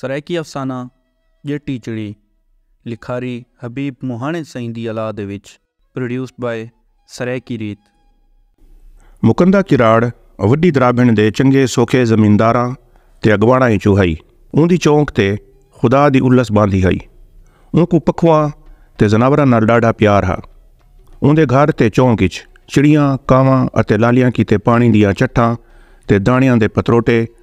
سرائیکی افسانہ ڄٹی چڑی لکھاری حبیب مہاݨے سئیں دی الا دے وچ Produced by سرائیکی ریت۔ مکندا کراڑ وݙی درابھݨ دے چنڳے سوکھے زمینداراں تے اڳواݨاں اچوں ہئی۔ اوندی چونک تے خدا دی الس ٻاندھی ہئی۔ اونکوں پکھواں تے ذناوراں نال ݙاڈھا پیار ہا۔ اوندے گھر تے چونک اچ چڑیاں، کاواں اتے لالیاں کیتے پاݨی دیاں چٹھاں تے داݨیاں دے پتروٹے،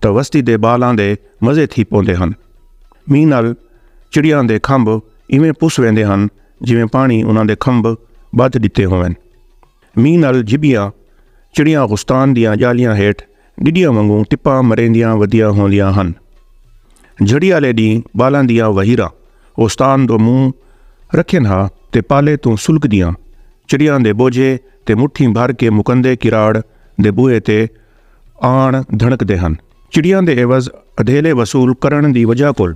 تاں وستی دے بال آندے مزے تھی پوندے ہن۔ مینہ نال چڑیاں دے کھمب ایویں پس ویندے ہن جیویں پاݨی انہاں دے کھمب ٻدھ ݙتے ہوون۔ مینہ نال جھبیاں چڑیاں غستان دیاں ڄالیاں ہیٹھ ݙڈیاں وانگوں ٹپاں مریندیاں ودیاں ہوندیاں ہن۔ جھڑی آلے ݙینہہ بالاں دیاں وہیراں غستان دو منہ رکھین ہا تے پالے توں سلکدیاں چڑیاں دے بوجھے تے مٹھیں بھر کے مکندے کراڑ دے بوہے تے آن دھنکدے ہن۔ چڑیاں دے عوض ادھیلے وصول کرݨ دی وجہ کول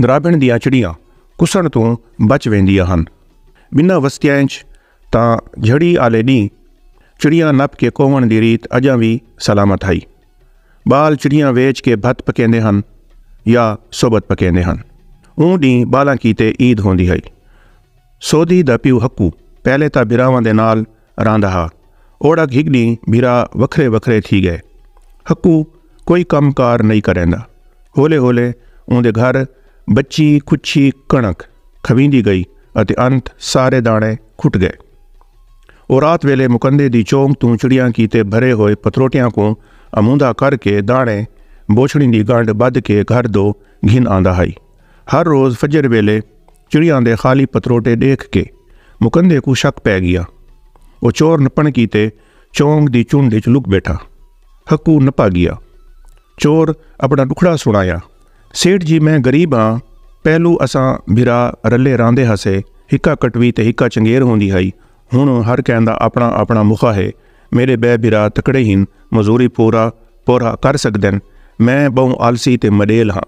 درابھݨ دیاں چڑیاں کسݨ توں بچ ویندیاں ہن۔ ٻنہاں وستیاں اچ تاں جھڑی آلے ݙینہہ چڑیاں نپ کے کووݨ دی ریت اڄاں وی سلامت ہئی۔ ٻال چڑیاں ویچ کے بھت پکیندے ہن یا سوبت پکیندے ہن۔ اوں ݙینہہ ٻالاں کیتے عید ہوندی ہئی۔ سودھی دا پیو ہکو پہلے تاں بھراواں دے نال رہندا ہا اوڑک ہک ڈینہہ بھرا وکھرے وکھرے تھی گئے ہکو کوئی کم کار نئی کریندا ہولے ہولے اوندے گھر بچی کچھی کݨک کھویندی گئی اتے انت سارے داݨے کھٹ گئے او رات ویلے مکندے دی چونگ توں چڑیاں کیتے بھرے ہوئے پتروٹیاں کوں اموندا کر کے داݨے بوچھڑیں دی گانڈ بدھ کے گھر دو گھن آندا ہئی ہر روز فجر ویلے چڑیاں دے خالی پتروٹے ڈیکھ کے مکندے کوں شک پے گیا۔ او چور نپن کیتے چونگ دی چنڈ اچ لک بیٹھا۔ ہکو نپا گیا۔ چور اپنا ڈکھڑا سنڑایا، سیٹھ جی میں غریب ہاں، پہلو اساں بھرا رلے راندے ہاسے، ہکا کٹوی تے ہکا چنگیر ہوندی ہائی، ہنڑ ہر کہیں دا اپنا اپنا مخا ہے، میڈے بئے بھرا تکڑے ہن، مزوری پورا پورھا کر سگدن، میں بہوں آلسی تے مڈیل ہاں۔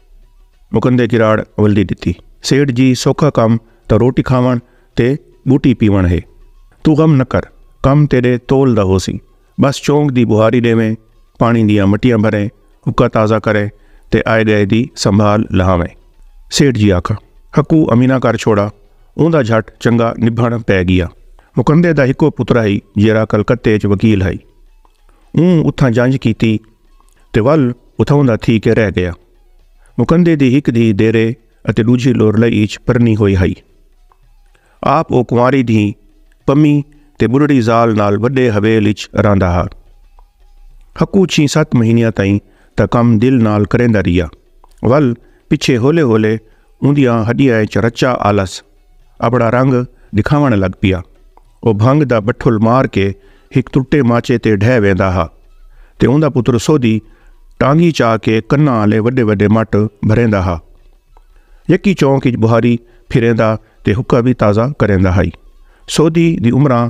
مکندے کراڑ ولدی ڈتی۔ سیٹھ جی سوکھا کم تاں روٹی کھاوݨ تے بوٹی پیوݨ ہے۔ توں غم نہ کر کم تیڈے تول دا ہوسی۔ بس چونک دی بہاری ڈیویں، پاݨی دیاں مٹیاں بھریں، حقہ تازہ کریں تے آئے گئے دی سنبھال لہاویں۔ سیٹھ جی آکھا۔ حقو امینہ کر چھوڑا۔ اوندا جھٹ چنگا نبھݨ پئے گیا۔ مکندے دا ہکو پترا ہئی جیرھا کلکتے اچ وکیل ہئی۔ اوں اتھاں جنج کیتی۔ تے ول اتھاؤں دا تھی کے رہ گیا۔ مکندے دی ہک دھی دیرے اتے ڈوجھی لورلئی اچ پرنی ہوئی ہئی۔ آپ او کنواری دھی پمی تے بڈھڑی زال نال وڈے حویل اچ رہندا ہا۔ حقو چھی ست مہینیاں تئیں تاں کم دل نال کریندا رہیا ول پچھے ہولے ہولے اوندیاں ہڈیاں اچ رچا آلس اپنا رنگ ڈکھاون لگ پیا۔ او بھنگ دا بٹھل مار کے ہک ترٹے ماچے تے ڈھہ ویندا ہا تے اوندا پتر سودھی ٹانگی چا کے کناں آلے وڈے وڈے مٹ بھریندا ہا۔ یکی چونک اچ بہاری پھریندا تے حکا وی تازہ کریندا ہائی۔ سودھی دی عمراں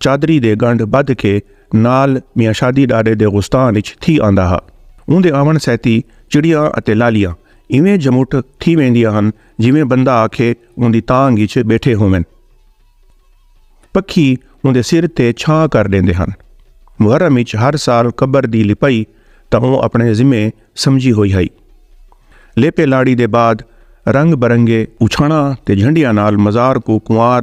چادری دے گنڈھ بدھ کے نال میاں شادی ڈاڈے دے غستان اچ تھی آندا ہا۔ اوندے آون سیتی چڑیاں اتے لالیاں ایویں جھمٹھ تھی ویندیاں ہن جیویں بندہ آکھے اوندی تانگھ اچ بیٹھے ہوون۔ پکھی اوندے سر تے چھاں کر ڈیندے ہن۔ محرم اچ ہر سال قبر دی لپائی تاں اوں اپنے ذمے سمجھی ہوئی ہئی۔ لیپے لاڑی دے بعد رنگ برنگے اوچھاناں تے جھنڈیاں نال مزار کوں کنوار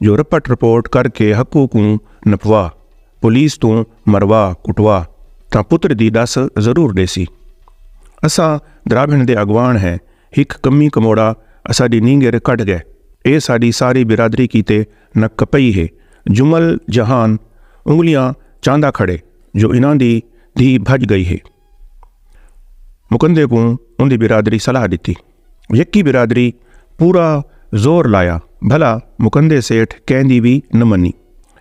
جو رپٹ رپورٹ کر کے حقو کوں نپوا پولیس توں مروا کٹوا تاں پتر دی ڈس ضرور ڈیسی اساں دراوھن دے اگوان ہیں ہک کمی کموڑا اساڈی نینگر کڈھ گئے اے ساڈی ساری برادری کیتے نک کپئی ہے جمل جہان انگلیاں چاندا کھڑے جو انہاں دی دھی بھج گئی ہے۔ مکندے کوں اندی برادری صلاح ڈتی۔ یکی برادری پورا زور لایا بھلا مکندے سیٹھ کہیں دی وی نہ منی۔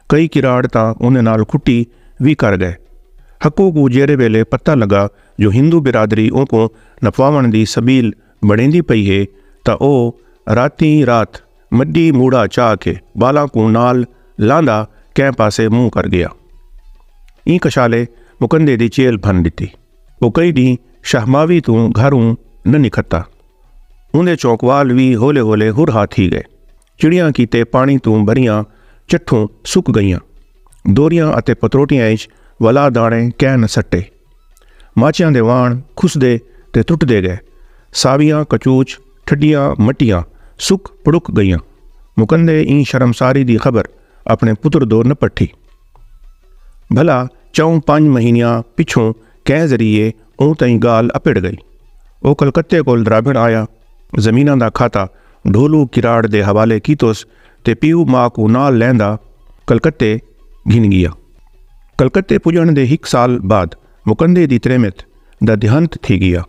کئی کراڑ تاں اندے نال کھٹی وی کر گئے۔ حقو کوں جیرھے ویلے پتہ لگا جو ہندو برادری اونکوں نپواونڑ دی سبیل بنڑیندی پئی ہے تاں او راتیں رات مڈی موڑا چا کے بالاں کوں نال لاندا کہیں پاسے منہ کر گیا۔ ایں کشالے مکندے دی چیل بھن ڈتی۔ او کئی ڈینہ شہماوی توں گھروں نہ نکھتا۔ اوندے چونکوال وی ہولے ہولے ہر ہا تھی گئے۔ چڑیاں کیتے پانی توں بھریاں چٹھوں سک گئیاں۔ دوریاں اتے پتروٹیاں اچ ولا دانے کہیں نہ سٹے۔ ماچیاں دے واݨ کھسدے تے ترٹدے ڳئے۔ ساویاں کچوچ، ٹھڈیاں مٹیاں سک پڑک ڳئیاں۔ مکندے ایں شرمساری دی خبر اپݨے پتر دو نہ پٹھی۔ بھلا چئوں پنج مہینیاں پچھوں کئیں ذریعے اوں تئیں ڳالھ اپڑ ڳئی۔ او کلکتے کول درابھݨ آیا۔ زمیناں دا کھاتا ڈھولو کراڑ دے حوالے کیتوس تے پیو ماء کوں نال لیندا کلکتے گھن گیا۔ کلکتے پجݨ دے ہک سال بعد مکندے دی تریمت دا دیہانت تھی گیا۔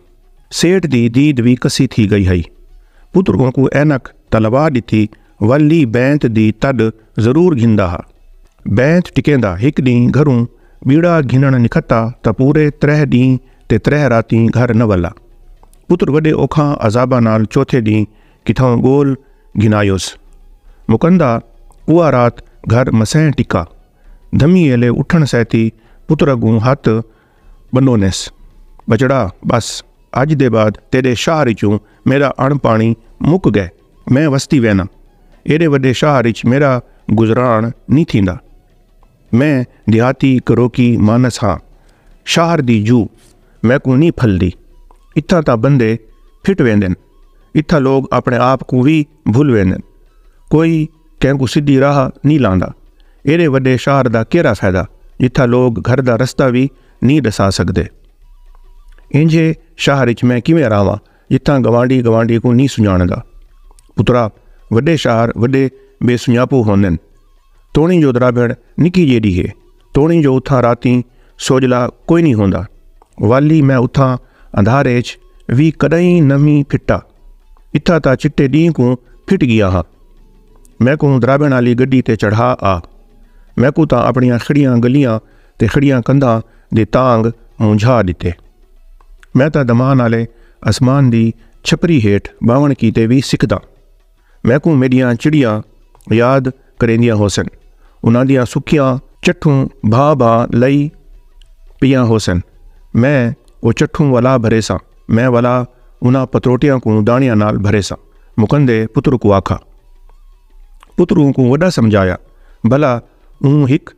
سیٹھ دی دید وی کسی تھی گئی ہئی۔ پتر اونکوں عینک تاں لوا ݙتی ول لی بینت دی تݙ ضرور گھندا ہا۔ بینت ٹکیندا ہک ݙینہہ گھروں ٻیڑا گھنݨ نکھتا تاں پورے تریہہ ݙینہہ تے تریہہ راتیں گھر نہ ولا۔ پتر وݙے اوکھاں عذاباں نال چوتھے ݙینہہ کتھاں ڳول گھنایوس۔ مکندا اوہا رات گھر مسئیں ٹکا۔ دھمی ایلے اٹھݨ سیتی پتر اڳوں ہتھ ٻنڈونیس۔ ٻچڑا ٻس اڄ دے بعد تیݙے شہر اچوں میݙا اݨ پاݨی مک ڳئے۔ میں وستی وینداں۔ ایݙے وݙے شہر اچ میݙا گزران نی تھیندا۔ میں دیہاتی کروکی مانس ہاں شاہر دی جو میکوں نی پھلدی اتھاں تاں بندے پھٹ ویندن اتھاں لوگ اپنے آپ کوں وی بھل ویندن کوئی کینکوں سدھی راہ نی لاندا ایڈے وڈے شاہر دا کیرا فیدہ جتھاں لوگ گھر دا رستہ وی نی ڈسا سگدے اینجھے شاہر اچ میں کیویں راہواں جتھاں گوانڈی گوانڈی کوں نہیں سنجاندا پترا وڈے شہر وڈے بے سنجاپو ہوندن توڑی جو درابھڑ نکی جیڈی ہے توڑی جو اتھاں راتیں سوجلا کوئی نہیں ہوندا والی میں اتھاں اندھارے اچ وی کدائیں نویں پھٹا اتھا تا چٹے ڈینہ کوں پھٹ گیا ہاں میں کوں درابھڑ والی گڈی تے چڑھا آ میں کو تا اپنیاں کھڑیاں گلیاں تے کھڑیاں کندھاں دے تانگ مونجھا ݙتے۔ میں تاں دمان آلے اسمان دی چھپری ہیٹھ ٻاہوݨ کیتے وی سکھداں۔ میکوں میݙیاں چڑیاں یاد کریندیاں ہوسن۔ انہاں دیاں سکیاں چٹھوں بھا بھا لئی پیاں ہوسن۔ میں او چٹھوں ولا بھریساں۔ میں ولا انہاں پتروٹیاں کوں داݨیاں نال بھریساں۔ مکندے پتر کوں آکھاں۔ پتر اونکوں وݙا سمجھایا بھلا اوں ہک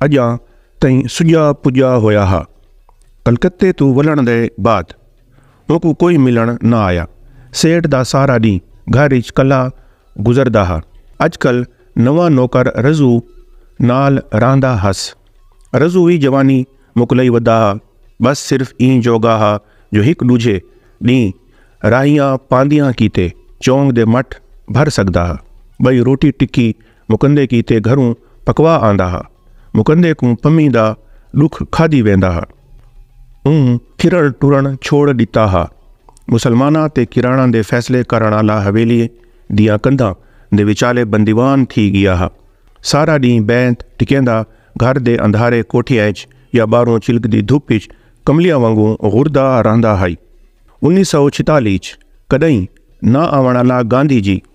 اڄاں تئیں سڄا پڄا ہویا ہا۔ کلکتے توں ولݨ دے بعد اونکوں کوئی ملݨ نہ آیا۔ سیٹھ دا سارا ݙینہہ گھر اچ کلھا گزردا ہا۔ اڄ کل نواں نوکر رضو نال رہندا ہس۔ رضو وی جوانی مکلئی ودا ہا۔ ٻس صرف ایں جوڳا ہا جو ہک ݙوجھے ݙینہہ راہیاں پاندیاں کیتے چونگ دے مٹ بھر سڳدا ہا۔ ٻئی روٹی ٹکی مکندے کیتے گھروں پکوا آندا ہا۔ مکندے کوں پمی دا ڈکھ کھادی ویندا ہا۔ اوں پھرن ٹرن چھوڑ ڈتا ہا۔ مسلماناں تے کراڑاں دے فیصلے کرن آلا حویلی دیاں کندھاں دے وچالے بندیوان تھی گیا ہا۔ سارا ڈینہہ بینت ٹکیندا گھر دے اندھارے کوٹھیاں اچ یا باہروں چلکدی دھپ اچ کملیاں وانگوں گھردا رہندا ہئی۔ انیس سو چھتالی اچ کڈئیں نہ آون آلا گاندھی جی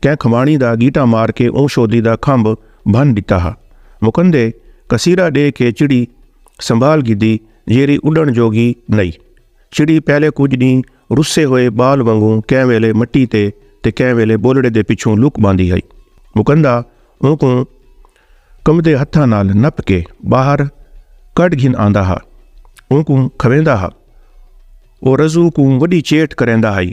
کئیں کھماݨی دا گیٹا مار کے اوں شودی دا کھمب بھن ݙتا ہا۔ مکندے کسیرا ݙے کے چڑی سنبھال گھدی جیرھی اݙݨ جوڳی نئی۔ چڑی پہلے کجھ ݙینہہ رسے ہوئے ٻال وانگوں کئیں ویلے مٹی تے تے کئیں ویلے ٻولڑے دے پچھوں لک ٻاندی ہئی۔ مکندا اونکوں کمبدے ہتھاں نال نپ کے ٻاہر کڈھ گھن آندا ہا۔ اونکوں کھویندا ہا۔ او رضو کوں وݙی چیٹ کریندا ہئی۔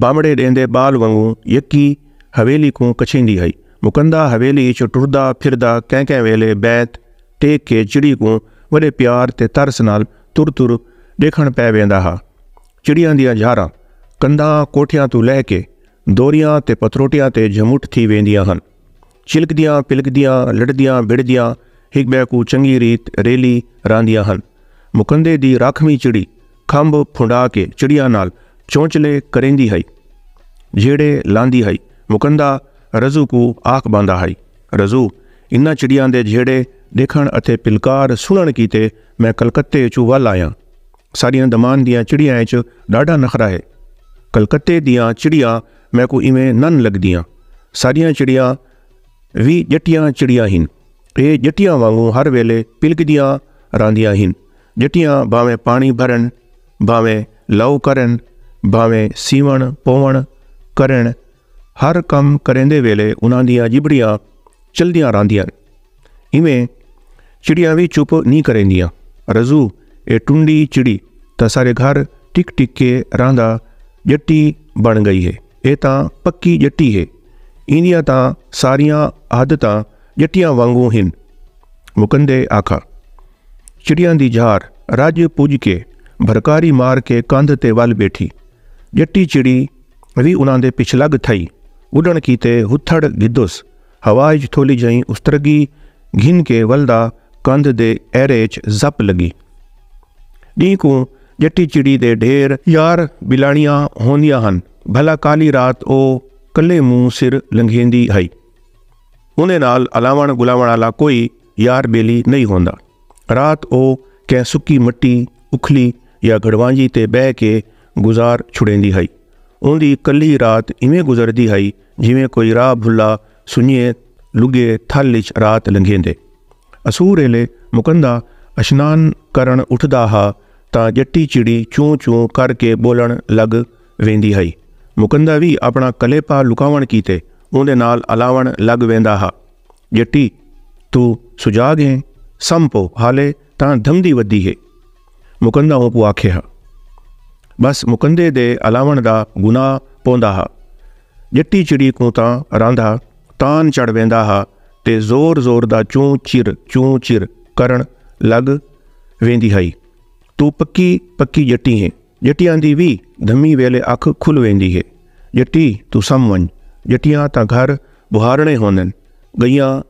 بانوڑے ڈیندے بال ونگوں یکی حویلی کوں کچھیندی ہئی۔ مکندا حویلی اچ ٹردا پھردا کہیں کہیں ویلے بیت ٹیک کے چڑی کوں وڈے پیار تے ترس نال تر تر ڈیکھن پے ویندا ہا۔ چڑیاں دیاں جھاراں کندھاں کوٹھیاں توں لہہ کے دوریاں تے پتروٹیاں تے جھمٹ تھی ویندیاں ہن۔ چلکدیاں پلکدیاں لڑدیاں بڑدیاں ہک بے کو چنگی ریت ریلی راندیاں ہن مکندے دی راکھویں چڑی کھمب پھنڈا کے چڑیاں نال چونچلے کریندی ہئی جھیڑے لاندی ہئی مکندا رضو کو آکھ باندا ہئی رضو انہاں چڑیاں دے جھیڑے ڈیکھن اتے پلکار سنن کیتے میں کلکتے اچوں ول آیاں ساڈیاں دمان دیاں چڑیاں اچ ڈاڈھا نخرا ہے کلکتے دیاں چڑیاں میکوں ایویں نن لگدیاں۔ ساڈیاں چڑیاں وی ڄٹیاں چڑیاں ہن۔ اے ڄٹیاں وانگوں ہر ویلے پلکدیاں راہندیاں ہن۔ ڄٹیاں بھانویں پاݨی بھرن، بھانویں لو کرن، بھانویں سیوݨ پووݨ کرن، ہر کم کریندے ویلے انہاں دیاں ڄبڑیاں چلدیاں راہندیاں ہن۔ ایویں چڑیاں وی چپ نی کریندیاں۔ رضو اے ٹنڈی چڑی تاں سارے گھر ٹک ٹک کے رہندا ڄٹی بݨ ڳئی ہے۔ اے تاں پکی ڄٹی ہے۔ ایندیاں تاں ساریاں عادتاں ڄٹیاں وانگوں ہن۔ مکندے آکھا۔ چڑیاں دی جھار رڄ پڄ کے بھرکاری مار کے کندھ تے ول ٻیٹھی۔ ڄٹی چڑی وی انہاں دے پچھلڳ تھئی۔ اݙݨ کیتے ہتھڑ گھدس۔ ہوا اچ تھولی جئیں استرگی گھن کے ولدا کندھ دے ایرے اچ زپ لگی۔ ڈینہہ کوں جٹی چڑی دے ڈھیر۔ یار بلاݨیاں ہوندیاں ہن بھلا کالی رات او کلھے مونہہ سر لنگھیندی ہئی۔ اوندے نال الاوݨ ڳلاوݨ آلا کوئی یار ٻیلی نئیں ہوندا۔ رات او کہیں سکی مٹی اکھلی یا گھڑوانجی تے ٻہہ کے گزار چھڑیندی ہئی۔ اوندی کلھی رات ایویں گزردی ہئی جیویں کوئی راہ بھلا سنجھے لگے تھل اچ رات لنگھیندے۔ اسور ایلے مکندا اشنان کرݨ اٹھدا ہا تاں ڄٹی چڑی چوں چوں کر کے ٻولݨ لڳ ویندی ہئی۔ مکندا وی اپݨا کلیپا لکاوݨ کیتے اوندے نال الاوݨ لڳ ویندا ہا۔ ڄٹی! توں سجاڳ ہیں؟ سم پو، حالے تاں دھمدی ودی ہے۔ مکندہ اونکوں آکھے ہا۔ ٻس مکندے دے الاوݨ دا گناہ پوندا ہا۔ ڄٹی چڑی کوں تاں راندا تان چڑھ ویندا ہا تے زور زور دا چوں چر چوں چر کرݨ لڳ ویندی ہئی۔ توں پکی پکی ڄٹی ہیں۔ ڄٹیاں دی وی دھمی ویلے اکھ کھل ویندی ہے۔ ڄٹی توں سم ونڄ۔ ڄٹیاں تاں گھر ٻہارݨے ہوندن۔ ڳئیاں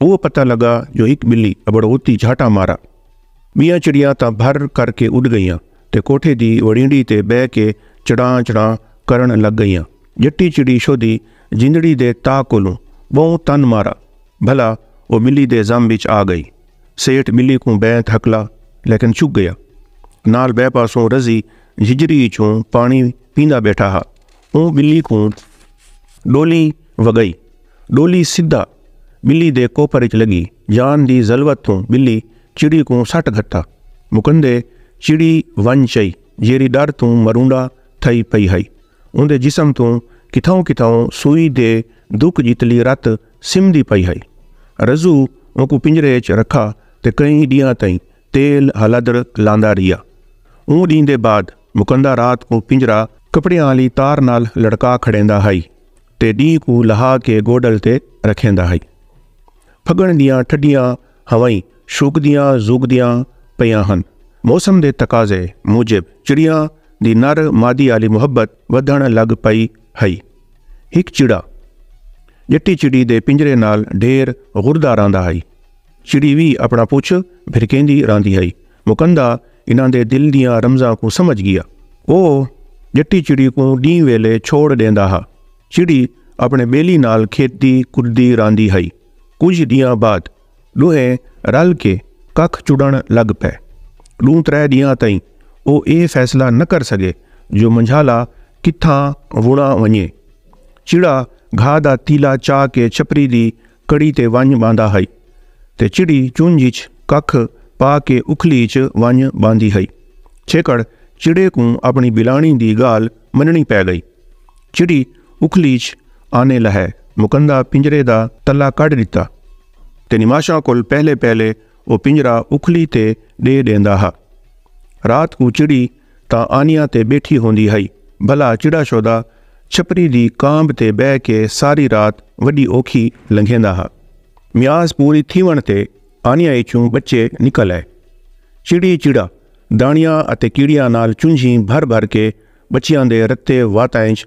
اوہ پتہ لگا جو ہک بلی ابڑ اوتی جھاٹا مارا۔ بیاں چڑیاں تاں بھر کر کے اڈ گئیاں تے کوٹھے دی وڑینڈی تے بہ کے چڑاں چڑاں کرن لگ گئیاں۔ جٹی چڑی شودی جندڑی دے تا کولوں بہوں تن مارا بھلا اوہ بلی دے زم وچ آ گئی۔ سیٹھ بلی کوں بہ دھکلا لیکن چک گئیا۔ نال بہ پاسوں رزی جھجری اچوں پانی پیندا بیٹھا ہا۔ اوں ٻلی کوں ݙولی وڳئی۔ ݙولی سدھا ٻلی دے کوپر اچ لڳی۔ جان دی ضلوت توں ٻلی چڑی کوں سٹ گھتا۔ مکندے چڑی ونڄ چئی جیرھی ݙر توں مرونڈا تھئی پئی ہئی۔ اوندے جسم توں کتھاؤں کتھاؤں سوئی دے دک جتلی رت سمدی پئی ہئی۔ رضو اونکوں پنجرے اچ رکھا تے کئی ݙینہاں تئیں تیل ہلدر لاندا رہیا۔ اوں ڈینہہ دے بعد مکندا رات کوں پنجرا کپڑیاں آلی تار نال لڑکا کھڑیندا ہئی تے ڈینہہ کوں لہا کے گوڈل تے رکھیندا ہئی۔ پھگن دیاں ٹھڈیاں ہوائیں شوکدیاں زوکدیاں پیاں ہن۔ موسم دے تقاضے موجب چڑیاں دی نر مادی آلی محبت ودھن لگ پئی ہئی۔ ہک چڑا جٹی چڑی دے پنجرے نال ڈھیر غردہ رہندا ہئی۔ چڑی وی اپݨا پچھ بھرکیندی رہندی ہئی۔ مکندا انہاں دے دل دیاں رمزاں کوں سمجھ ڳیا۔ او ڄٹی چڑی کوں ݙینہہ ویلے چھوڑ ݙیندا ہا۔ چڑی اپݨے ٻیلی نال کھیݙدی کݙدی رہندی ہئی۔ کجھ ݙینہاں بعد ݙوہیں رل کے ککھ چݨݨ لڳ پئے۔ ݙوں ترے ݙینہاں تئیں او اے فیصلہ نہ کر سڳے جو منجھالا کتھاں وݨا ونڄے۔ چڑا گھاہ دا تیلا چا کے چھپری دی کڑی تے ونڄ ٻاندا ہئی تے چڑی چنڄ اچ ککھ پا کے اکھلی اچ ونڄ ٻاندی ہئی۔ چھیکڑ چڑے کوں اپݨی ٻلاݨی دی ڳالھ منݨی پئے ڳئی۔ چڑی اکھلی اچ آنے لہے مکندا پنڄرے دا تلا کڈھ ݙتا تے نماشاں کول پہلے پہلے او پنڄرا اکھلی تے ݙے ݙیندا ہا۔ رات کوں چڑی تاں آنیاں تے ٻیٹھی ہوندی ہئی بھلا چڑا شودا چھپری دی کانب تے ٻہہ کے ساری رات وݙی اوکھی لنگھیندا ہا۔ میاس پوری تھیوݨ تے آنیاں اچوں ٻچے نکل آئے۔ چڑی چڑا داݨیاں اتے کیڑیاں نال چنجھیں بھر بھر کے ٻچیاں دے رتے واتاں اچ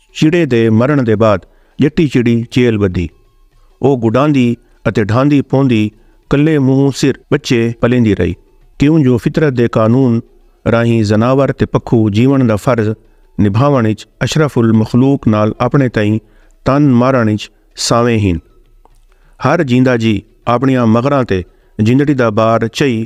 چڑے دے مرݨ دے بعد ڄٹی چڑی چیل ٻدھی۔ او گݙاندی اتے ڈھاندی پوندی کلھے مونہوں سر ٻچے پلیندی رہی کیوں جو فطرت دے قانون راہیں ذناور تے پکھو جیوݨ دا فرض نبھاوݨ اچ اشرف المخلوق نال آپݨے تئیں تن مارݨ اچ سانویں ہن۔ ہر جیندا جی آپݨیاں مغراں تے جندڑی دا بار چئی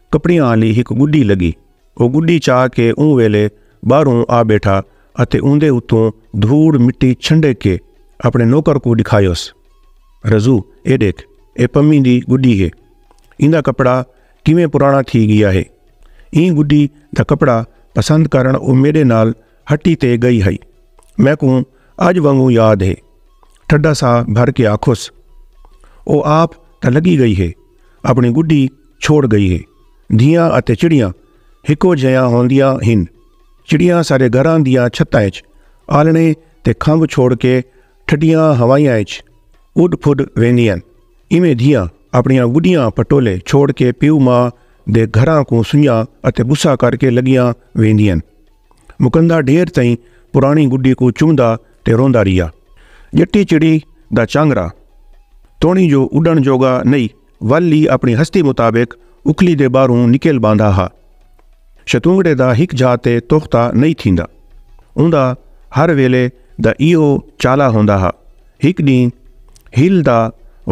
کپڑیاں آلی ہک گڈی لگی۔ او گڈی چا کے اوں ویلے باہروں آ بیٹھا اتے اوندے اتوں دھوڑ مٹی چھنڈک کے اپنے نوکر کوں ڈکھایوس۔ رضو اے ڈیکھ اے پمی دی گڈی ہے۔ ایندا کپڑا کیویں پرانا تھی گیا ہے۔ ایں گڈی دا کپڑا پسند کرن او میڈے نال ہٹی تے گئی ہئی۔ میکوں اج وانگوں یاد ہے۔ ٹھڈا ساہ بھر کے آکھوس۔ او آپ تاں لگی گئی ہے۔ اپݨی گݙی چھوڑ ڳئی ہے۔ دھیاں اتے چڑیاں ہکو جھیاں ہوندیاں ہن۔ چڑیاں سارے گھراں دیاں چھتاں اچ آلݨے تے کھمب چھوڑ کے ٹھڈیاں ہوائیاں اچ اݙ پھݙ ویندین۔ ایویں دھیاں اپݨیاں گݙیاں پٹولے چھوڑ کے پیو ماء دے گھراں کوں سنڄاں اتے ٻوسا کر کے لڳیاں ویندین۔ مکندا ڈھیر تئیں پراݨی گڈی کوں چوندا تے روندا رہیا۔ ڄٹی چڑی دا چانگرا توݨی جو اݙݨ جوڳا نئی ول لی اپݨی ہستی مطابق اکھلی دے ٻاہروں نکل ٻاندا ہا۔ شتونگڑے دا ہک جھا تے توختا نئی تھیندا۔ اوندا ہر ویلے دا ایہو چالا ہوندا ہا۔ ہک ݙینہہ ہیل دا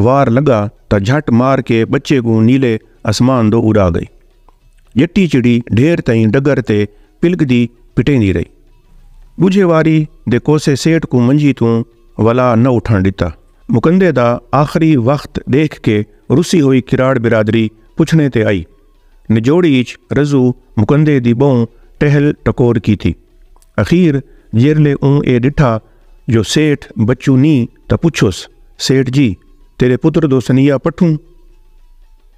وار لڳا تاں جھٹ مار کے ٻچے کوں نیلے اسمان دو اݙا ڳئی۔ جٹی چڑی ڈھیر تئیں ڈگر تے پلکدی پٹیندی رہی۔ ڈوجھے واری دے کوسے سیٹھ کوں منجی توں ولا نہ اٹھن ڈتا۔ مکندے دا آخری وخت ڈیکھ کے رسی ہوئی کراڑ برادری پچھنے تے آئی۔ نجوڑی اچ رزو مکندے دی بہوں ٹہل ٹکور کیتی۔ اخیر جیرلے اوں اے ڈٹھا جو سیٹھ بچو نی تاں پچھوس، سیٹھ جی! تیرے پتر دو سنیہ پٹھوں؟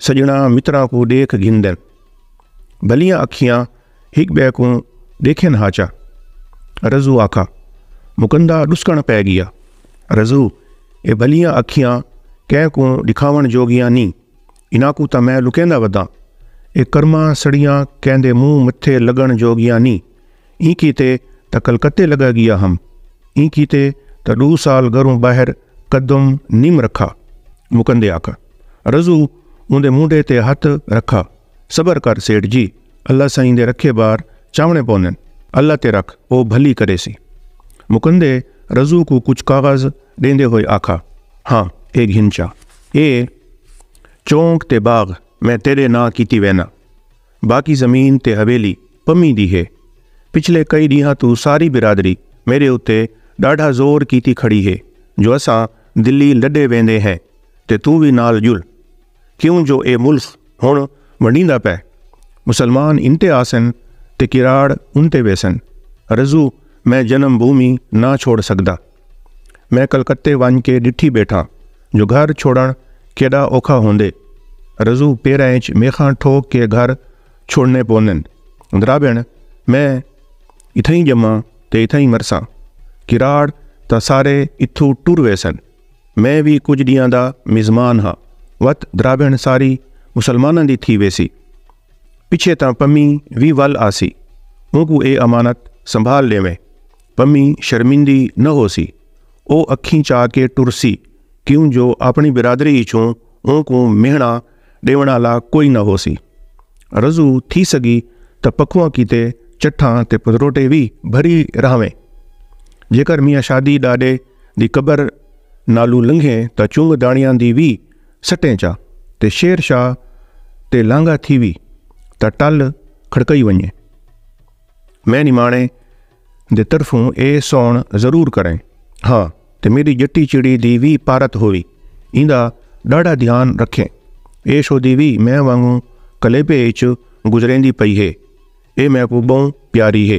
سجنا مترا کو دیکھ گھندن بلیاں اکھیاں ہک بے کو دیکھن ہاچا رزو آکھا مکندا ڈسکن پے گیا رزو اے بلیاں اکھیاں کہہ کو دکھاون جوگیاں نی انہاں کو تا میں لکیندا ودا اے کرما سڑیاں کہندے منہ متھے لگن جوگیاں نی ایں کیتے تاں کلکتے لگا گیا ہم ایں کیتے تاں ڈو سال گروں باہر قدم نیم رکھا مکندے آکا رضو اوندے مونڈے تے ہتھ رکھا صبر کر سیٹھ جی اللہ سائیں دے رکھے بار چاونے پوندن اللہ تے رکھ او بھلی کریسی مکندے رضو کوں کچھ کاغذ ڈیندے ہوئے آکھا ہاں اے گھن چا اے چونک تے باغ میں تیڈے ناں کیتی وینا باقی زمین تے حویلی پمی دی ہے۔ پچھلے کئی ڈینہاں توں ساری برادری میڈے اتے ڈاڈھا زور کیتی کھڑی ہے جو اساں دلی لڈے ویندے ہیں تے توں وی نال جل کیوں جو اے ملخ ہن ونڈیندا پے۔ مسلمان انتے آسن تے کراڑ انتے ویسن۔ رزو میں جنم بھومی نہ چھوڑ سگدا۔ میں کلکتے ونج کے ڈٹھی بیٹھاں جو گھر چھوڑن کیڈا اوکھا ہوندے رزو پیرا انچ میخاں ٹھوک کے گھر چھوڑنے پوندن درابن میں اتھائیں جماں تے اتھائیں مرساں کراڑ تاں سارے اتھو ٹر ویسن میں وی کجھ ڈیاں دا میزمان ہاں وت درابن ساری مسلماناں دی تھی ویسی پچھے تاں پمی وی ول آسی اونکو اے امانت سنبھال ڈیویں پمی شرمندی نہ ہوسی۔ او اکھیں چا کے ٹرسی کیوں جو آپݨی برادری اچوں اونکوں مہݨا ݙیوݨ آلا کوئی نہ ہوسی۔ رضو تھی سڳی تاں پکھواں کیتے چٹھاں تے پتروٹے وی بھری رہاویں۔ جیکر میاں شادی ݙاݙے دی قبر نالوں لنگھیں تاں چنگ داݨیاں دی وی سٹیں چا تے شیر شاہ تے لانگھا تھیوی تاں ٹل کھڑکئی ونڄے۔ میں نماݨے دے طرفوں اے سون ضرور کریں ہا تے میڈی جٹی چڑی دی وی پارت ہووی ایندا ڈاڈا دھیان رکھیں اے شودی وی میں وانگوں کلیپے اچ گزریندی پئی ہے اے میکوں بہوں پیاری ہے۔